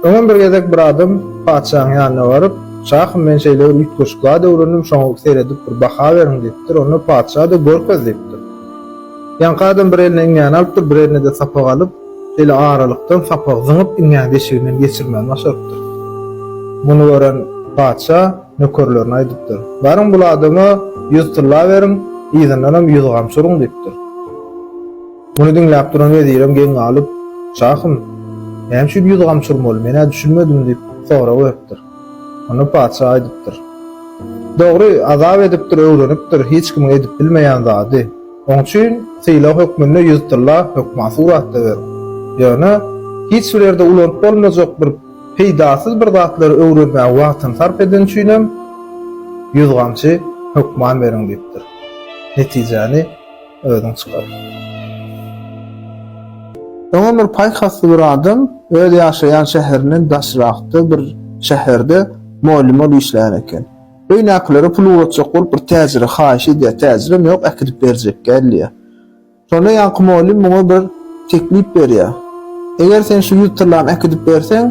Öňem bir gezek bir adam patyşaň ýanyna baryp, Şahym, men şeýle bir üýtgeşiklad öwrendim, şoňa seredip bir baha beriň diýipdir. Onda patyşa-da Görkez diýipdir. Ýaňky adam bir eline iňňäni alypdyr, bir eline-de sapak alyp, şeýle aralykdan sapagy zyňyp, iňňäni deşiginden geçirmän başarypdyr. Muny gören patyşa nökerlerine aýdypdyr, Baryň bul adama ýüz tylla beriň, yzyndanam ýüz gamçy uruň diýipdir. Muny diňläp duran wezirem geň galyp, Şahym, näme üçin ýüz gamçy urmaly, men-ä düşünmedim diýip, sorag beripdir. Onda patyşa aýdypdyr. Dogry, azap edipdir, öwrenipdir hiç kimiň edip bilmeýän zady. Oň üçin sylag hökmünde ýüz tylla hökman suratda beriň. Ýöne, hiç bir ýerde ulanyp bolmajak bir peýdasyz bir zatlary öwrenmäge wagtyny sarp edeni üçinem ýüz gamçy hökman beriň diýipdir. Netijäni. Özüň çykar. Öňem bir paýhasly bir adam öz ýaşaýan şäherinden daşrakda bir şäherde mugallym bolup işleýän eken. Öýnäkilere pul ugratjak bolup bir täjire haýyş edýär. Täjirem ýok, äkidip berjekkä diýýär. Şonda ýaňky mugallym muňa bir teklip berýär. Eger sen şu ýüz tyrlany äkidip berseň,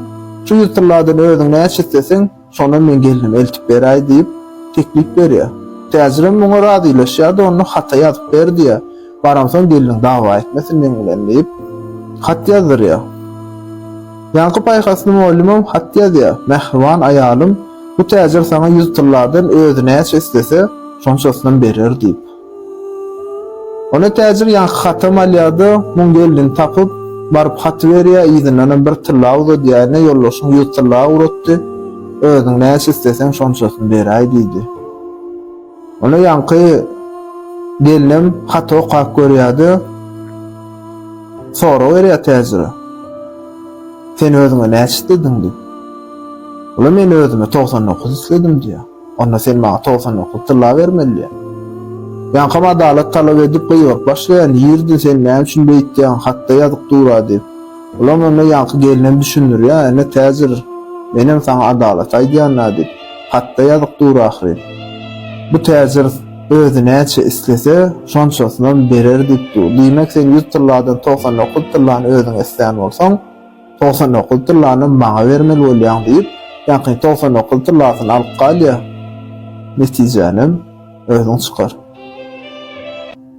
şu ýüz tyrladan özüň näçe isleseň, Şonda men gelnimi eltip beräý diýip, teklip berýär. Täjirem muňa razylaşýar-da, onda hata ýazyp ber diýýär. Baramsoň gelniň dawa etmesin meň bilen diýip, hat ýazdyrýar. Ýaňky paýhasly mollymam hat ýazýar, Mähriban aýalym, bu täjir saňa ýüz tylladan özi näçe islese, şonçasyny berer diýip. Ony täjir ýaňky hatam alýar-da, muň gelnini tapyp, baryp haty berýär, yzyndanam bir tylla uzadýar-ine, ýoldaşyň ýüz tylla ugratdy, özüň näçe isleseň şonçasyny beräý diýdi. Ony ýaňky gelnem haty okap görýär-de, sorag berýär täjire, Sen özüňe näçe islediň diýip. Ol-a Men özüme togsan dokuz isledim diýýär. Onda sen maňa togsan dokuz tylla bermelidiň. Ýaňkam adalat talap edip gygyryp başlaýan, Ýerdi, sen näme üçin beýtýäň, hatda ýazyk dur-a diýip. Olam onda ýaňky gelinem düşündirýär, Ene, täjir, menem saňa adalat aýdýan-a diýip, hatda ýazyk dur ahyryn. Bu täjir özi näçe islese, şonçasynam berer diýip dur. Diýmek, sen ýüz tylladan togsan dokuz tyllany özüň islän bolsaň, Togsan dokuz tyllany maňa bermeli bolýaň diýip, ýaňky togsan dokuz tyllasyny alyp galýar. Netijänem özüň çykar.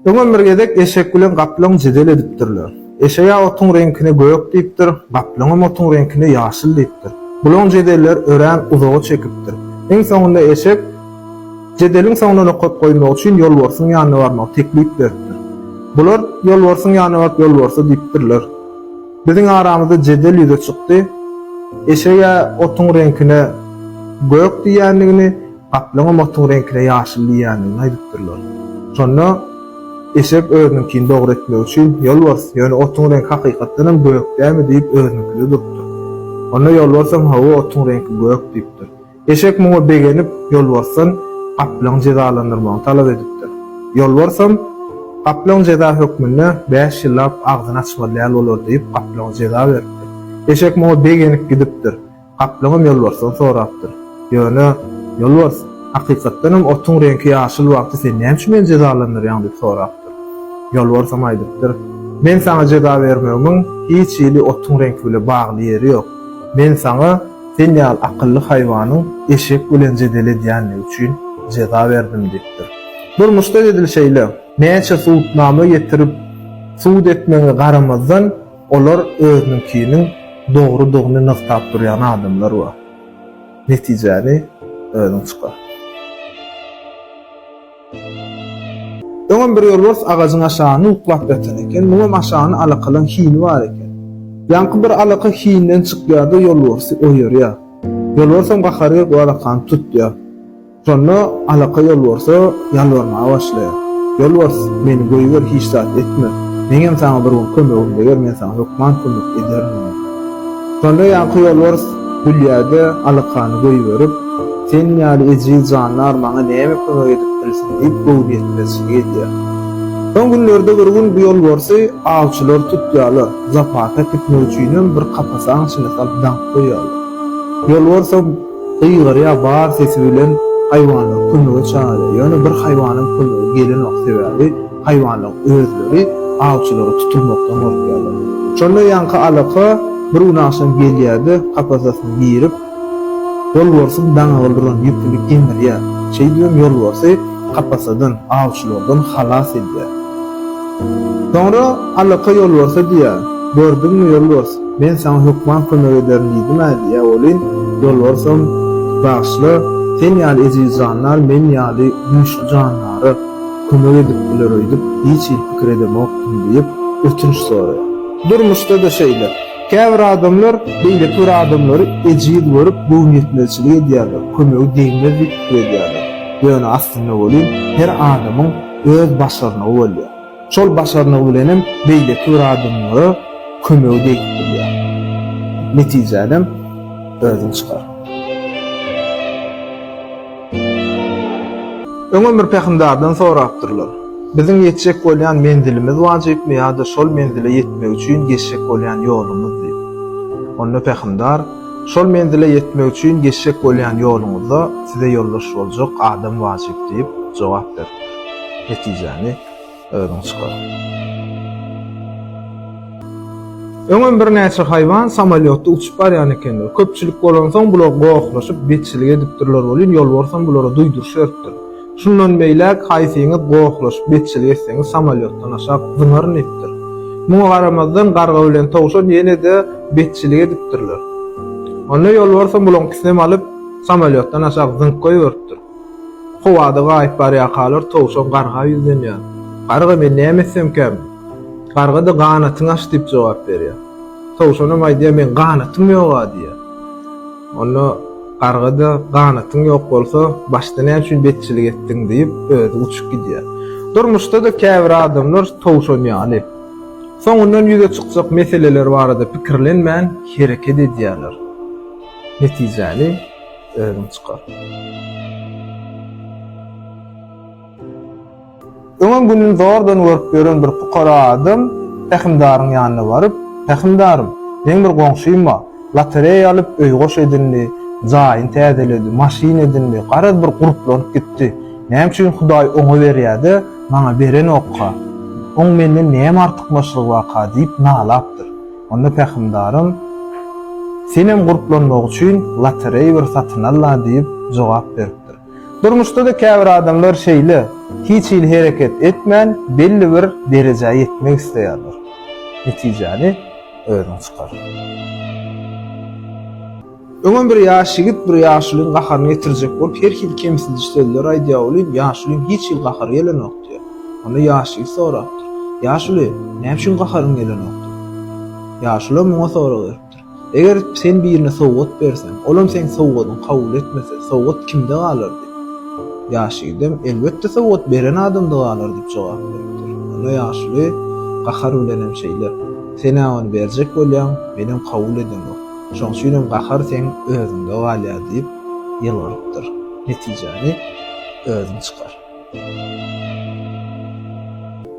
Öňem bir gezek eşek bilen gaplaň jedel edipdirler. Eşeg-ä otuň reňkine gök diýipdir, gaplaňam otuň reňkine ýaşyl diýipdir. Bulaň jedeller örän uzaga çekipdir. Iň soňunda eşek jedeliň soňuna nokat goýmak üçin ýolbarsyň ýanyna barmagy teklip beripdir. Bular ýolbarsyň ýanyna baryp ýolbarsa diýipdirler. Biziň aramyzda jedel ýüze çykdy. Eşege otuň reňkine gök diýýändigini, gaplaňam otuň reňkine ýaşyl diýýändigini aýdypdyrlar. Şonda eşek özüniňkini dogry etmek üçin, Ýolbars, ýöne otuň reňki hakykatdanam gök dälmi diýip özüniňkide durupdyr. Onda Ýolbarsam, Hawa, otuň reňki gök diýipdir. Eşek muňa begenip, ýolbarsdan gaplaň jezalandyrmagyny talap edipdir. Ýolbarsam, Gaplaň jeza hökmünde bäş ýyllap agzyny açmaly däl bolar diýip, gaplaňa jeza beripdir. Eşek muňa begenip gidipdir. Gaplaňam ýolbarsdan sorapdyr. Ýöne, ýolbars, hakykatdanam otuň reňki ýaşyl wagty sen näme üçin meni jezalandyrýaň? diýip sorapdyr. Ýolbarsam aýdypdyr, Men saňa jeza bermegimiň hiç hili otuň reňki bile bagly ýeri ýok. Men saňa. Sen ýaly akylly haýwanyň eşek bilen jedel edýänligi üçin jeza berdim diýipdir. Durmuşda edil şeýle. Näçe sudnama getirip, sud etmegiňe garamazdan, olar özüniňkiniň dogrudygyny nygtap durýan adamlar bar. Netijäni özüň çykar. Öňem bir ýolbars agajyň aşagyny uklap ýatan eken, muňam aşagyny alakalan hini bar eken. Ýaňky bir alaka hinden çykýar-da ýolbarsy oýarýar. Ýolbarsam gahary gelip o alakany tutýar. Şonda alaka ýolbarsa ýalbarmaga başlaýar. Ýolbars, meni goýber, hiç zat etme. Meňem saňa bir gün kömegim deger, men saňa hökman kömek ederin diýýär. Şonda ýaňky ýolbars Gülýäde alakany goýberip, Seniň ýaly ejiz janlar maňa näme kömek edip bilsin diýip göwnüýetmezçilik edýär. Soň günlerde bir gün bu ýolbarsy awçylar tutýarlar, zapasa äkitmek üçinem bir kapasaň içine salyp daňyp goýýarlar. Ýolbarsam gygyrýar bar sesi bilen haýwanlary kömege çagyrýar, ýöne bir haýwanyň kömegi gelenok, sebäbi, Haýwanlaryň özleri awçylara tutulmakdan gorkýarlar. Şonda ýaňky alaka bir gün agşam gelýär-de, kapasasyny girip, ýolbarsyň daňyga duran ýüpüni gemirýär. Şeýdibem ýolbarsy kapasadan, awçylardan halas edýär. Soňra alaka ýolbarsa diýýär, Gördüňmi, ýolbars, men saňa hökman kömek ederin diýdim-ä diýýär welin, ýolbarsam, Bagyşla, sen ýaly eziz jandar men ýaly güýçli jandara, Kömek edip biler öýdüp hiç hili pikir edemokdym diýip, ötünç soraýar. Durmuşda-da şeýle. Käbir adamlar beýleki bir adamlary ejiz görüp, göwnüýetmezçilik edýärler, kömegi degmez diýip pikir edýärler. Ýöne aslynda welin, her adamyň öz başarnygy bolýar. Şol başarnygy bilenem beýleki bir adamlara kömegi degip bilýär. Netijänem özüň çykar. Öňem bir pähimdardan sorapdyrlar, Biziň ýetjek bolýan menzilimiz wajypmy ýa-da şol menzile ýetmek üçin geçjek bolýan ýolumyz diýip. Onda pähimdar, Şol menzile ýetmek üçin geçjek bolýan ýoluňyzda size ýoldaş boljak adam wajyp diýip jogap beripdir. Netijemi. Özüň çykar. Öňem birnäçe haýwan samolýotda uçup barýan ekenler. Köpçülik bolansoň, bular gohlaşyp, betçilik edipdirler welin, ýolbarsam bulara duýduryş beripdir. Şundan beýläk haýsyňyz gohlaşyp, betçilik etseňiz, samolýotdan aşak zyňaryn diýipdir. Muňa garamazdan, garga bilen towşan ýene-de betçilik edipdirler. Onda ýolbarsam bularyňkysynam alyp, samolýotdan aşak zyňyp goýberipdir. Howada gaýyp barýarkalar towşan garga ýüzlenýär. Garga men näme etsemkäm? Garga-da ganatyňy aç diýip jogap berýär. Towşanam aýdýar meň ganatym ýog-a diýýär. Onda garga-da ganatyň ýok bolsa başda näme üçin betçilik etdiň diýip özi uçup gidýär. Durmuşda-da käbir adamlar towşan ýaly. Soňundan ýüze çykjak meseleler barada pikirlenmän hereket edýärler. Netijäni. Özüň çykar. Öňem gününi zordan görüp ýören bir pukara adam pähimdaryň ýanyna baryp, Pähimdarym, meň bir goňşym-a, lotereýa alyp, öý goş edindi, jaýyny täzeledi, maşyn edindi, garaz bir guruplanyp gitdi. Näme üçin Hudaý oňa berýä-de, maňa berenok-ka? Oň menden näme artykmaçlygy barka? diýip nalapdyr. Onda pähimdarym, Senem gurplanmak üçin lotereý bir satyn al-la diýip jogap beripdir. Durmuşda-da käbir adamlar şeýle, hiç hili hereket etmän, belli bir derejä ýetmek isleýärler. Netijäni özüň çykar. Öňem bir ýaş ýigit bir ýaşulyň gaharyny getirjek bolup her hili kemsidiji sözler aýdýar welin, ýaşulyň hiç hili gahary gelenok diýýär. Onda ýaş ýigit sorapdyr, Ýaşuly, näme üçin gaharyň gelenokdyr? Ýaşulam muňa sorag beripdir, Eger sen birine sowgat berseň, olam seň sowgadyňy kabul etmese, sowgat kimde galar? diýip, ýaş ýigidem, Elbetde sowgat beren adamda galar diýip jogap beripdir. Onda ýaşuly gahar bilenem şeýle, Sen-ä ony berjek bolýaň, menem kabul edeňok. Şoň üçinem gahar seň özüňde galýar diýip ýylgyrypdyr. Netijäni özüň çykar.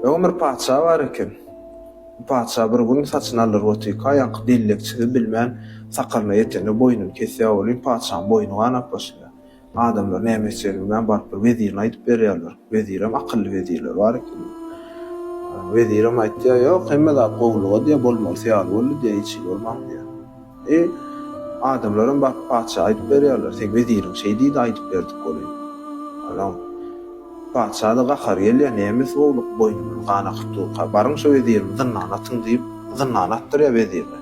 Öň bir patyşa bar eken. Bu patyşa bir gün saçyny aldyryp otyrka, ýaňky bellekçisi bilmän sakalyna ýetende boýnuny kesýär welin, patyşanyň boýny ganap başlaýar. Adamlar näme etjegini bilmän baryp bir wezirine aýdyp berýärler. Wezirem akylly wezirler bar eken. Wezirem aýtýar, Ýok, hemme zat gowulyga diýýär, bolmalysy ýaly boldy diýýär, hiç hili bolman diýýär. E, adamlaram baryp patyşa aýdyp berýärler, Seň weziriň şeý diýdi, aýdyp berdik welin. Ýa, Patyşa-da gahary gelýär, Nemes gowluk, boýnumyz gan akypdurka, baryň şu wezirimi zyndana atyň diýip, zyndana atdyrýar wezirni.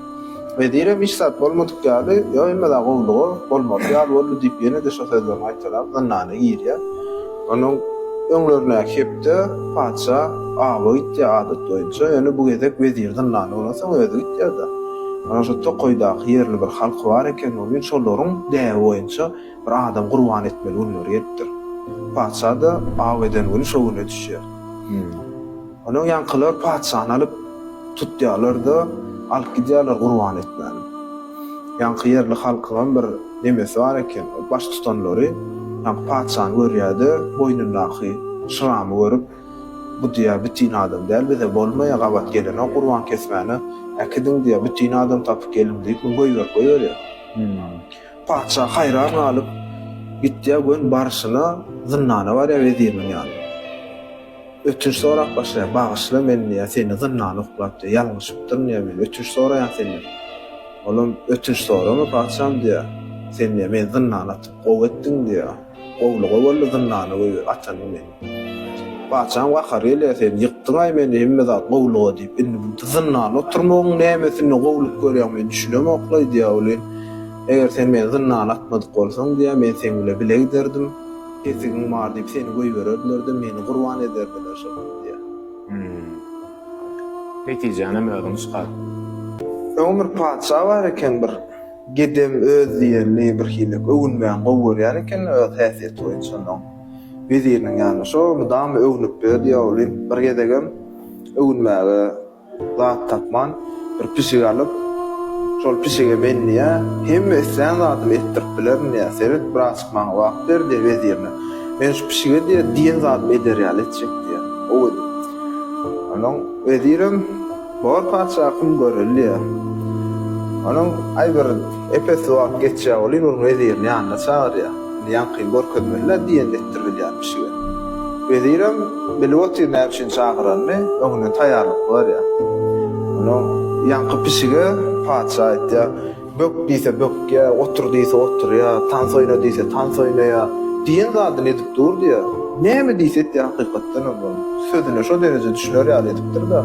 Wezirem hiç zat bolmadyk ýaly, Ýok, emme-de gowluga bolmaly ýaly boldy diýip, ýene-de şo sözlerini gaýtalap, zyndana girýär. Onuň öňlerindäki hepde patyşa awa gitýär adat boýunça, ýöne bu gezek wezir zyndana bolansoň özi gitýär-de. Onuň şo tokaýdaky ýerli bir halky bar eken, ol gün şolaryň däbi boýunça, Bir adam gurban etmeli günleri gelipdir. Patyşa-da aw eden güni şo güne düşýär. Onuň ýaňkylar patyşany alyp tutýarlar-da, alyp gidýärler gurban etmäne. Ýaňky ýerli halkyňam bir nemesi bar eken, baş tutanlary ýaňky patyşany görýär-de, boýnundaky şyramy görüp, Bu diýýär, bütin adam däl, bize bolmaýar, gabat gelenok gurban kesmäne, äkidiň diýýär, bütin adam tapyp geliň diýip, goýberip goýberýär. Patyşa haýran galyp, gitýär we barşyna zyndana barýar weziriniň ýanyna. Ötünç sorap başlaýar, Bagyşla meni diýýär, seni zyndana oklap diýýär, ýalňyşypdyryn diýýär, men ötünç soraýan senden. Olam, Ötünç sorama patyşam diýýär, sen diýýär, meni zyndana atyp gowy etdiň diýýär. Gowluga boldy zyndana goýber atanyň meni. Patyşaň gahary gelýär sen ýykdyňaý meni hemme zat gowluga diýip indi bu zyndanda oturmagyň nämesine gowluk görýäň men düşünemoklaý diýýär welin eger sen meni zyndana atmadyk bolsaň diýýär men seň bile bile giderdim pesigiň bar diýip seni goýbererdilerde meni gurban ederdiler şonam diýýär. Netijänem özüň çykar. Öň bir patyşa bar eken bir. Gedem öz diýenini birhili öwünmän gowy görýän eken öz häsiýeti boýunça onuň weziriniň ýanyna şo mydama öwnüp ýör diýýä olim bir gezegem öwünmäge zat tapman bir pişik alyp şol pişige men diýýä hemme islän zadymy etdirip bilerin diýýä seret bir azçyk maňa wagt ber diýýä wezirine men şu pişige diýýä diýen zadymy eder ýaly etjek diýýä gowy edip onuň wezirem Bor patyşa kim görer diýýär. Onuň aý bir epesli wagt geçýär weli bir wezirini ýanyna çagyrýar. Indi ýaňkyny görkezmeli-le diýenini etdirilýär pişige. Wezirem bilip otyr näme üçin çagyranyny, öňünden taýýarlyk görýär. Onuň ýaňky pişige patyşa aýtýar. Bök diýse bökýä, otur diýse oturýa, tans oýna diýse tans oýnaýa, diýen zadyny edip durdy-ýa. Näme diýse etýä hakykatdanam ol. Sözüne şo dereje düşüner ýaly edipdir-de.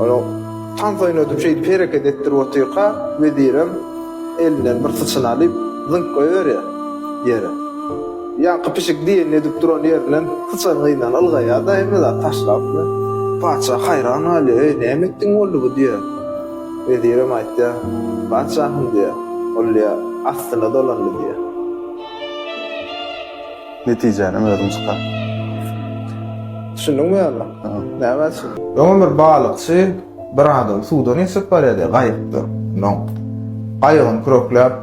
Onuň Tans oýnadym şeýdip hereket etdirip otyrka, wezirem elinden bir syçan alyp, zyňk goýberýä ýere. Ýaňky pişik diýenini edip duran ýerinden syçanyň yzyndan ylgaýa-da hemme zady taşlap. Patyşa haýran galýa, Eý, näme etdiň boldy bu? diýýä. Wezirem aýtýar, Patyşahym diýýär, ol ýa astyna dolandy diýýär. Netijänem özüň çykar. Düşündiňmi ýa-da? Näme üçin? Öňem bir balykçy bir adamy suwdan geçirip barýar diýýär, gaýykda. Onsoň gaýygyny kürekläp.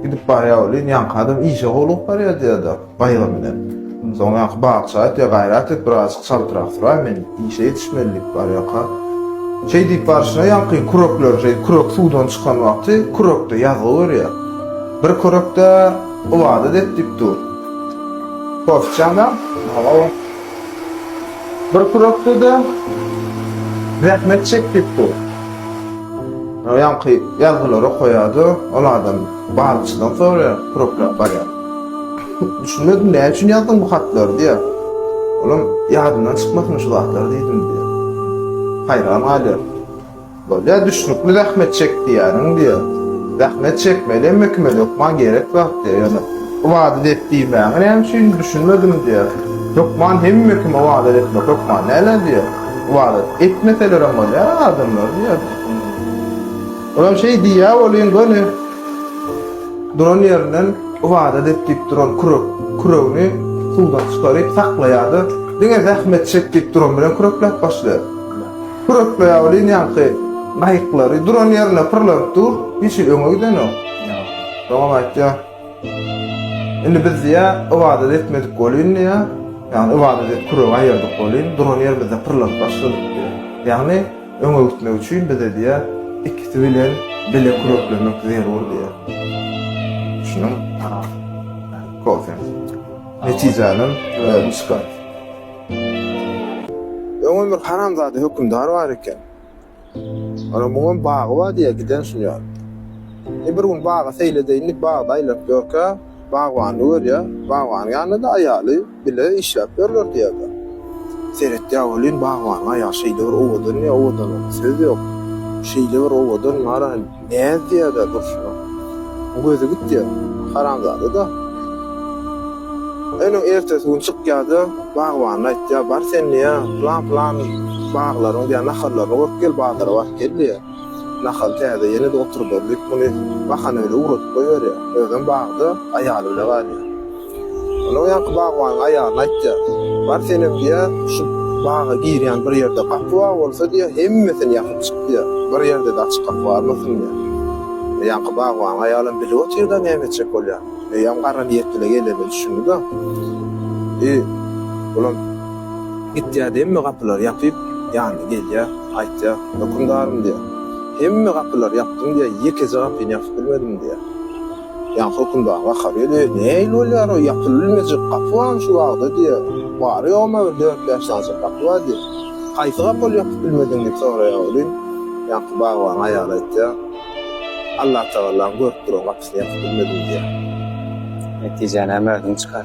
Gidip barýar welin, ýaňky adam işe howlugyp barýar diýýär-de, gaýgy bilen. Soň ýaňky bakçy aýtýar, Gaýrat et, birazajyk çaltrak süräý, men işe ýetişmeli diýip barýarka. Şeý diýip barşyna ýaňky kürekleri şeý kürek suwdan çykan wagty kürekde ýazgy görýär. Bir kürek-de ybadat et diýip dur. Kofçaňam? Hawa. Bir purakda-da zähmet çekdik bu. Ýaňky ýazgylary okaýardy, ol adam balykçydan soraýar, puraklap barýar. Düşünmedim, näme üçin ýazdyň bu hatlary diýýär. Olam ýadymdan çykmasyn şu zatlar diýdim diýýär. Haýran galýar. Bolýa düşnükli zähmet çek diýýäniň diýýä. Zähmet çekmeli emme kime hökman gerek zat diýýä. Ýöne ybadat et diýmäňi näme üçin düşünmedim diýýä. Hökman hemme kim ybadat etmek hökman dälä diýýä. Ybadat etmeselerem bolýa adamlar diýýä. Olam şeý diýýä welin göni duran ýerinden ybadat et diýip duran kürek küregini suwdan çykaryp saklaýada diňe zähmet çek diýip duran bilen kürekläp başlaýa. Kürekleýäw liniýaňky gaýyklary duran ýerinde pyrlanyp dur, hiç hili öňe gidenok. Soňam aýtýar, Indi biz diýýär, ybadat etmedik welin diýýär, ýagny ybadat edip küregi aýyrdyk welin, duran ýerimizde pyrlanyp başladyk diýýär. Ýagny öňe gitmek üçin bize diýýär, ikisi bilen bile küreklemek zerur diýýär. Düşündiňmi? Aha. Kofe. Netijänem özi çykar. Öňem bir haramzada hökümdar bar eken. Onuň muňam bagy bar diýýär, giden sunýar. E bir gün baga seýledeýin diýip bagda aýlanyp ýörkä, bagbany görýär. Bagbanyň ýanynda-da aýaly bile işläp ýörler diýýärler. Seretýär welin, bagbanyň aýaly şeýle bir owadan, owadanlygyna söz ýok. Şeýle bir owadan, maral. Näz diýäda durşuna. Bu gözi gitýä. Haramzada-da. Öniň ertesi gün çykýa-da, bagbanyna aýtýa, Bar sen diýä, pylan-pylan baglaryň diýä nahallaryny görüp gel, bazara baryp gel diýä. Nahal täze ýene-de oturdar diýip, muny bahana bile ugradyp goýberýä. Özem bagda aýaly bile galýa. Onuň ýaňky bagbanyň aýalyna aýtýar, Bar senem diýýä, şu baga girýän bir ýerde gapy bar bolsa diýýä, hemmesini ýapyp çyk diýýä, bir ýerde-de açyk gapy galmasyn diýýä. Ýaňky bagbanyň aýalam bilip otyr-da näme etjek bolýan. Öýem gara niýetli-le gelenine düşündi-de, I, bulam gitýä-de hemme gapylary ýapyp, ýanyna gelýär, aýtýar, Hökümdarym diýýär, hemme gapylary ýapdym diýýä, ýekeje gapyny ýapyp bilmedim diýýä. Ýa hökümdar gaharýa-da, Nähili bolýar o, ýapylybilmejek gapy barmy şu bagda? diýýär. Bary-ýogumy bir dört-bäş dança gapy bar, diýip. Haýsy gapy ol ýapyp bilmedigiň? diýip soraýar welin, ýaňky bagbanyň aýaly aýtýar, Allatagalaň görüp duran gapysyny ýapyp bilmedim, diýýär. Netijäni hem özüň çykar.